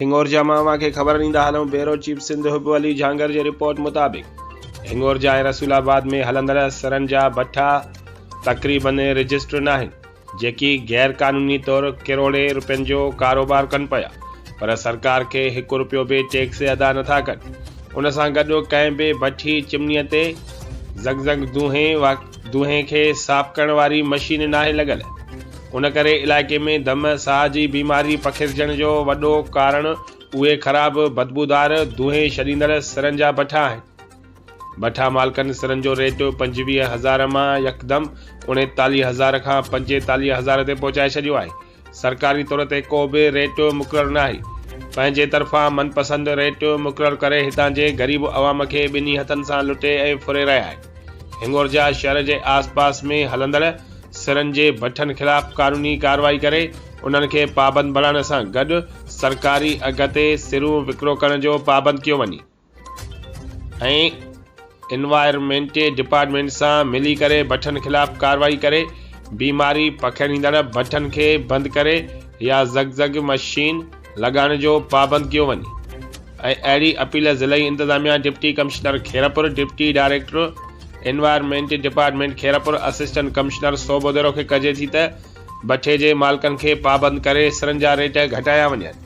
هنڱورجا مان اوهان کي خبر ڏيندا هلون بيورو چيف سنڌ حب علي جهانگر جي رپورٽ مطابق هنڱورجا ۽ رسول آباد ۾ هلندڙ سرن جا ڀٺا تقريبن رجسٽر ناهن جيڪي غير قانوني طور ڪروڙين رپين جو ڪاروبار ڪن پيا پر سرڪار کي هڪ رپيو به ٽيڪس ادا نٿا ڪن ان سان گڏ ڪنهن به ڀٺي چمني تي زنگ زنگ دونهين دونهين کي صاف ڪرڻ واري مشين ناهي لڳل، ان ڪري علائقي ۾ دم، ساهه جي بيماري پکيڙجڻ جو وڏو ڪارڻ اهي خراب بدبودار دونهين ڇڏيندڙ سرن جا بٺا آهن. بٺا مالڪن سرن جو ريٽ پنجويهه هزار مان يڪدم اڻيتاليهه هزار کان پنجيتاليهه هزار تي پهچائي ڇڏيو آهي. سرڪاري طور تي ڪو به ريٽ مقرر ناهي، پنهنجي طرفان من پسند ريٽ مقرر ڪري هتان جي غريب عوام کي ٻنهي هٿن سان لٽي ۽ ڦري رهي آهي. هنڱورجا شهر جي آس پاس ۾ هلندڙ سرن جي ڀٺن خلاف قانوني ڪارروائي ڪري انهن کي پابند بڻائڻ سان گڏ سرڪاري اگهه تي سرون وڪرو ڪرڻ جو پابند ڪيو وڃي. ۽ انوائرمينٽ ڊپارٽمينٽ سان ملي ڪري بٺن خلاف ڪارروائي ڪري بيماري پکيڙيندڙ بٺن کي بند ڪري يا زگ زگ مشين لڳائڻ جو پابند ڪيو وڃي ۽ اهڙي اپيل ضلعي انتظاميا deputy commissioner Khairpur deputy director environment department Khairpur assistant commissioner Sobho Dero کي ڪجي ٿي ته بٺي جي مالڪن کي پابند ڪري سرن جا ريٽ گهٽايا وڃن.